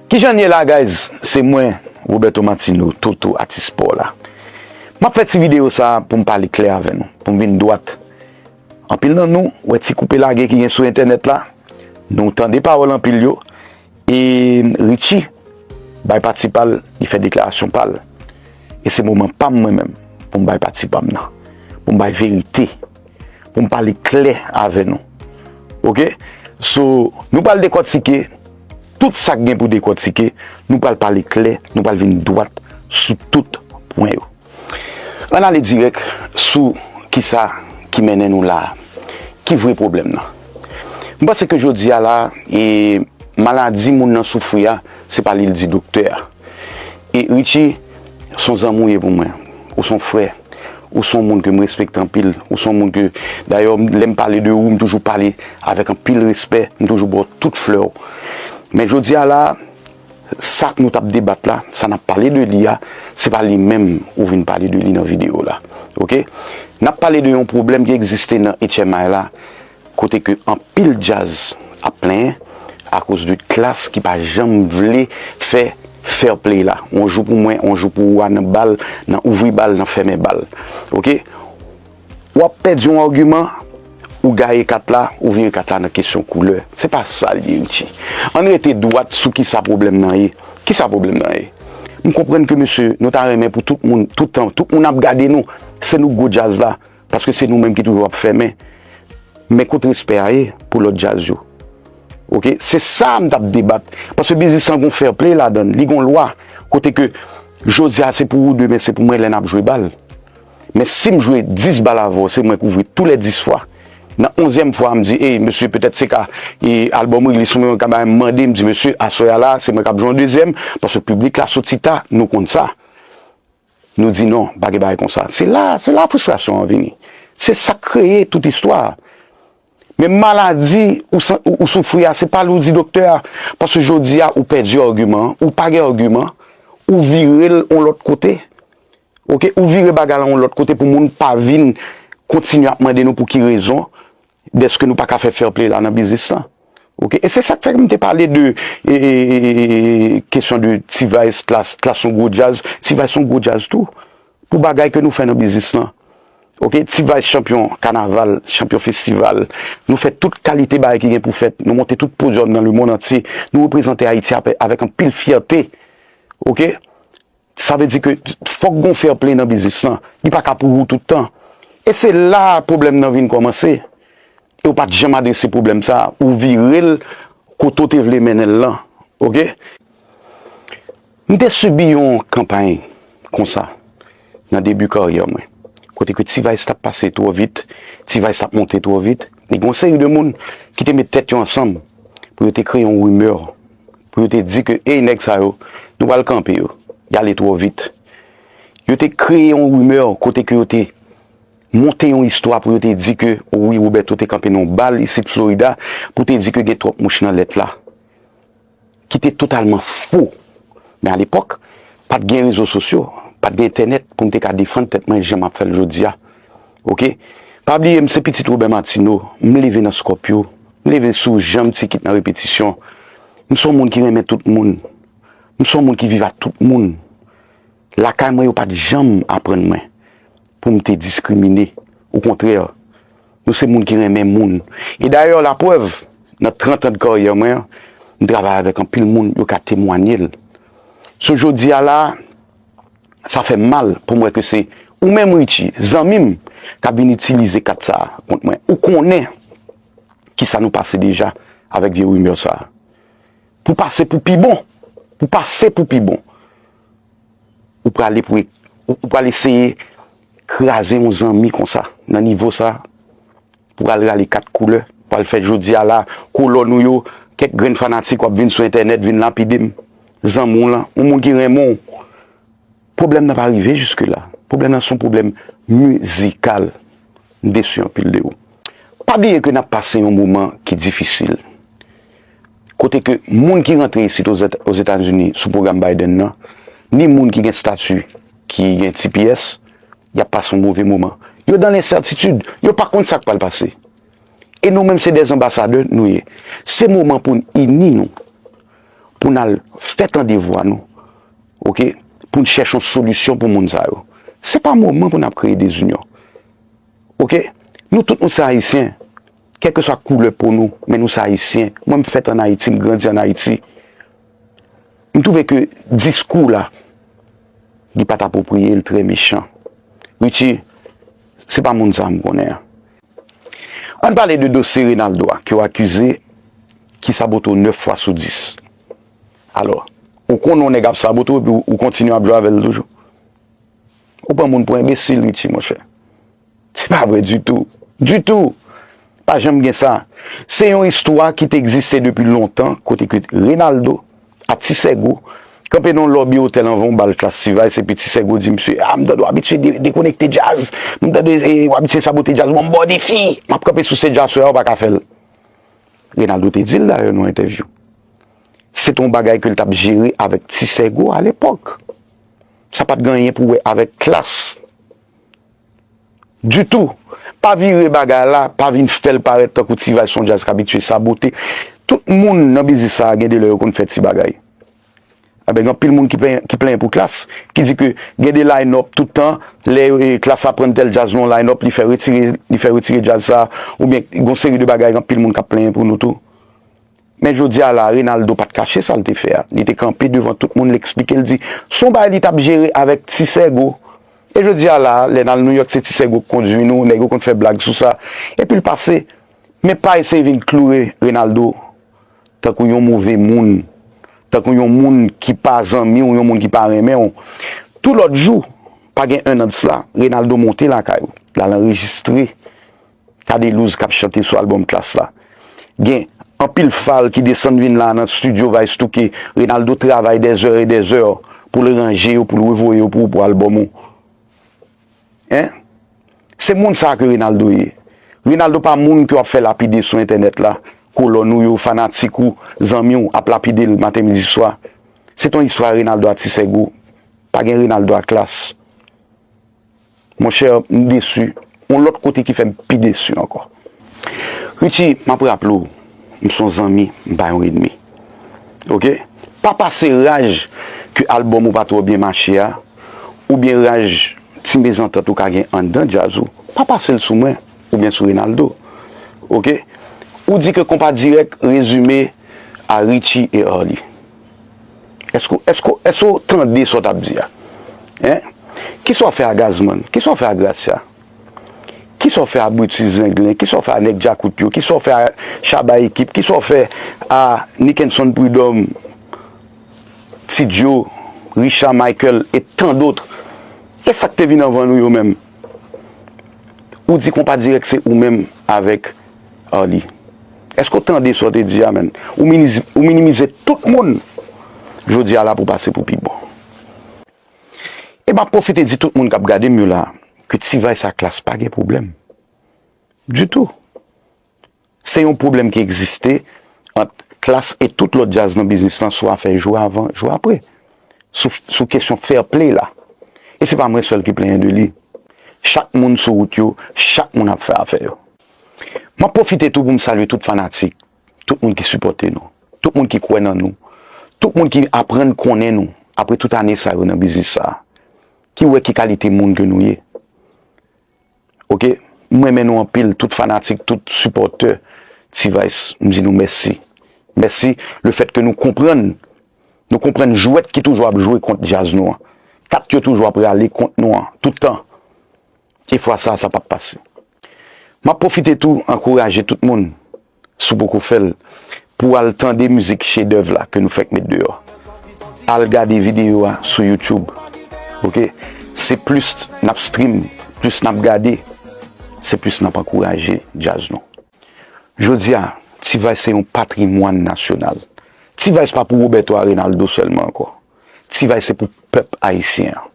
Kijan n ye la guys se mwen Roberto Martino Toto atis spò la M ap fè ti videyo sa a pou m pale klè avè nou pou m vin dwat Anpil nan nou wè ti koupe lage ki gen sou entènèt la nou tande pawòl anpil yo e Richie bay pati pa l li fè deklarasyon pa l e se moman pa m mwen menm pou m bay pati pa m nan pou m bay verite. pou m pale klè avè nou. Ok, so nou pral dekòtike tout sa k gen pou dekòtike, nou pral pale klè, nou pral vin dwat sou tout pwen yo. Ann ale dirèk sou kisa ki mennen nou la a, ki vre pwoblèm nan. M panse ke jodi a la, maladi moun nan soufri a, se pa li l di doktè a. E Richie, son zanmi ou ye pou mwen. Ou son frè. Ou son moun ke m respekte anpil. Ou son moun ke, dayè, lè m pale de ou, m toujou pale avèk anpil respè. M toujou ba w tout flè w. Men jodi a la, sa nou t ap debat la, sa n ap pale de li a, se pa li menm ou vin pale de li nan videyo la. Ok? N ap pale de yon pwoblèm ki egziste nan HMI la. Kote ke anpil djaz ap plenyen akoz de klass ki pa janm vle fè fair play la. On jou pou mwen, on jou pou ou a nan bal, nan ouvri bal, nan fèmen bal. Ok. Wap pèdi on argument, ou gaye kat la, ou vire kat la nan kesyon koulè. Se pa sa li ye Richie. Ann rete dwat sou kisa pwoblèm nan ye. Kisa pwoblèm nan ye? M konprann ke mesye nou ta renmen pou tout moun, tout tan, tout moun ap gade nou, se nou gwo djaz la. Paske se nou menm ki toujou ap fèmen. Men kot respè a ye pou lòt djaz yo. Ok, se sa m t ap debat. Paske biznis lan gon fair play ladan l. Li gon lwa. Kote ke jodi a se pou ou, demen se pou mwen lè n ap jwe bal. Men si m jwe 10 bal avè w, se mwen k ouvri tou lè 10 fwa. Nan onzyèm fwa a m di, ey mesye petèt se ka e albòm Reglis se mwen k ap bay, m mande m di mesye aswè a la se mwen k ap jwe yon dezyèm. Paske piblik la soti ta, nou konn sa. Nou di non, pa gen bagay konsa. Se la, se la fristrasyon an vini. Se sa k kreye tout istwa a. Men maladi ou san, ou soufri a, se pa lè ou di doktè a, paske jodi a ou pèdi agiman an, ou pa gen agiman, ou vire l yon lòt kote. Ok, ou vire bagay la yon lòt kote pou moun pa vin kontinye ap mande nou pou ki rezon Deske nou paka fè fairplay la nan biznis lan. Ok e se sak fè m te pale de kesyon de T-vice, klass, klass son gwo djaz, T-vice son gwo djaz tou pou bagay ke nou fè nan biznis lan. Ok T-vice chanpyon kanaval, chanpyon festival, nou fè tout kalite bagay ki gen pou fèt, nou monte tout podyòm nan le mond antye, nou reprezante Ayiti avèk anpil fyète. Ok. Sa vle di ke fòk gon fair play nan biznis lan. Li pa ka pou ou tout tan. E se la a pwoblèm nan vin kòmanse. E ou pat janm adrese pwoblèm sa a. Ou vire l kote ou te vle mennen l lan. Ok. M te sibi yon kanpay konsa nan debi karyè mwen. Kote ke T-Vice t ap pase twò vit. T-Vice t ap monte twò vit. E gen yon seri de moun ki te met tèt yo ansanm pou yo te kreye yon rumeur pou yo te di ke ey nèg sa yo, nou pral kanpe yo, yale twò vit. Yo te kreye yon rimè kote ke yo te monte yon istwa pou yo te di ke wi Roberto te kanpe nan yon bal isit Florida pou te di ke gen twòp mouch nan lèt la. Ki te totalman fo. Men a lepòk, pat gen rezo sosyo, pat gen entènèt pou m te ka defann tèt mwen jan m ap fè l jodi a. Ok. Pa bliye m se pitit Robert Martineau, m leve nan Scorpio. M leve sou jan m ti kit nan repetisyon. M se yon moun ki renmen tout moun. M se yon moun ki viv ak tout moun. Lakay mwen yo pa t janm aprann mwen pou m te diskrimine. Okontrè, nou se moun ki renmen moun. E dayè, laprèv, nan trantan de karyè mwen, m travay avèk anpil moun, yo ka temwanye l. So jodi a la a, sa fè m mal pou m wè ke se ou menm Richie, zanmi m, k ap vin itilize kat sa a kont mwen. Ou konnen! kisa nou pase deja avèk vye rumeur sa. Pou pase pou pi bon, pou pase pou pi bon, ou prale pou ou pral eseye kraze yon zanmi konsa nan nivo sa, pou al rale kat koulè, pou al fè jodi a la kolòn ou yo, kèk grenn fanatik wap vin sou entènèt vin lapide m, zanmi w lan, yon moun ki renmen w. Pwoblèm nan pa rive jiske la. Pwoblèm nan son pwoblèm mizikal. M desu anpil de ou. Pa bliye ke nap pase yon moman ki difisil. Kote ke moun ki rantre isit Ozetazini sou pwogram Biden nan, ni moun ki gen statu ki gen tps, yap pase yon move moman. Yo dan lensètitid. Yo pa konn sak pral pase. E nou menm se de anbasadè nou ye. Se moman poun ini nou. Poun al fè tande vwa nou. ok pou n chèche yon solisyon pou moun sa yo se pa moman pou n ap kreye dezinyon ok nou tout nou se ayisyen kèlkeswa koulè po nou men nou se ayisyen mwen m fèt an ayiti m grandi an ayiti m twouve ke diskou w la li pa t apwopriye l trè mechan Richie se pa moun sa a m konnen an an n pale de dosye Renaldo a ke w akize ki sabote w 9 fwa sou 10. Alò, ou konnen yon nèg ap sabote w epi ou kontinye ap jwe avè l toujou? Ou pran moun pou enbesil wi ti monchè. Se pa vre ditou. Ditou! Pa janm gen sa. Se yon istwa ki te egziste depi lontan kote ke Renaldo ak Ti Sègo kanpe nan yon lòbi otèl anvan yon bal Klass T-Vice epi Ti Sègo di msye, A m tande w abitye dekonekte djaz, m tande w abitye sabote djaz, bon m ba w defi! M ap kanpe sou sej la aswè a ou pa ka fè l. Renaldo te di l dayè nan yon entèvyou. Se te yon bagay ke l t ap jere avèk ti sègo a lepòk. Sa pa t gen anyen pou wè avèk klas ditou. Pa vire bagay la, pa vin fè l parèt tankou T-Vice se yon djaz k abitye sabote. Tout moun nan biznis sa a gen de lè yo konn fè ti bagay. Anben gen anpil moun ki plenyen pou klas, ki di ke gen de line up tout tan, lè klas aprann tèl djaz nan yon line up, li fè retire djaz sa a, oubyen gen yon seri de bagay gen anpil moun k ap plenyen pou nou tou. Men jodi a la, Reynaldo pa t kache sa l te fè a. Li te kanpe devan tout moun, l eksplike, l di s on bagay li t ap jere avèk Ti Sègo. E jodi a la, lè n al Nouyòk se Ti Sègo k kondui nou, nèg yo konn fè blag sou sa. Epi l pase. Men pa eseye vin kloure Reynaldo tankou yon move moun, tankou yon moun ki pa zanmi w, yon moun ki pa renmen w. Tou lòt jou, pa gen ennan de sla, Reynaldo monte lakay ou, l al anrejistre Cadelouse k ap chante sou albòm Klass la. Gen anpil fal ki desann vin la nan stidyo Vaystoke. Renaldo travay des heures et des heures pou l ranje yo, pou l revoye yo pou ou pou albòm ou. Hein? Se moun sa a ke Renaldo ye. Renaldo pa moun ke w ap fè lapide sou entènèt la, kolòn ou yo, fanatik ou, zanmi w ap lapide l maten, midi, swa. Se t on istwa Renaldo a Ti Sègo. Pa gen Renaldo a Klass. Mon cher m desu. On lot kote ki fem pi desu anko. Richie map raple w m son zanmi m pa yon enemi ok pa pase raj ke album ou pa tro byen mache a oubyen raj ti mezantant ou ka gen anndan djaz ou pa pase l sou mwen oubyen sou Renaldo ok ou di ke konpa direk rezime a Richie et Arly. Eske eske eske ou tande sa w t ap di a? Hein? Kisa w fè a Gazman? Kisa w fè a Gracia? Kisa w fè a Brutus Zenglen? Kisa w fè a Nèg Djakout yo? Kisa w fè a Shabba Ekip? Kisa w fè a Nickenson Prud'homme, Ti Djo, Richard Michael et tant d'autres? E sa k te vin anvan nou yo menm? Ou di konpa dirèk se ou menm avèk Arly. Èske ou tande sa w te di a menn? Ou minimize tout moun jodi a la pou pase pou pi bon. E m ap pwofite di tout moun k ap gade m yo la ke T-vice ak Klass pa gen pwoblèm ditou. Se yon pwoblèm ki egziste ant Klass e tout lòt djaz nan biznis lan sou afè jou avan, jou apre. Sou kesyon fair play la. E se pa mwen sèl ki plenyen de li. Chak moun sou wout yo, chak moun ap fè afè yo. M ap pwofite tou pou m salye tout fanatik, tout moun ki sipòte nou, tout moun ki kwè nan nou, tout moun ki aprann konnen nou apre tout ane sa yo nan biznis sa a, ki wè ki kalite moun ke nou ye. ok m renmen nou anpil tout fanatik tout sipòtè T-vice m di nou mèsi mèsi le fèt ke nou konprann nou konprann jwèt ki toujou ap jwe kont djaz nou an kat yo toujou ap rale kont nou an toutan e fwa sa sa pap pase m ap pwofite tou ankouraje tout moun. Si w poko fè l, pou w al tande mizik chedèv la ke nou fèk met deyò, al gade videyo a sou YouTube ok, se plis n ap stream, plis n ap gade, se plis n ap ankouraje djaz nou. Jodi a, T-Vice se yon patrimwàn nasyonal. T-Vice pa pou Roberto Arenaldo sèlman ankò. T-Vice se pou pèp ayisyen an.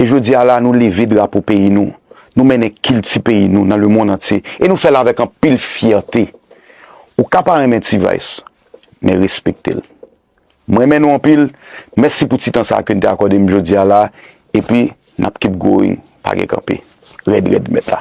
E jodi a la nou leve drapo peyi nou, nou mennen kilti peyi nou nan lemonn antye e nou fè l avèk anpil fyète. Ou ka pa renmen T-Vice, men respekte l. M renmen nou anpil, mèsi pou ti tan sa a ke n te akòde m jodi a la epi n ap keep going, pa gen kanpe. Rèd rèd mèt la.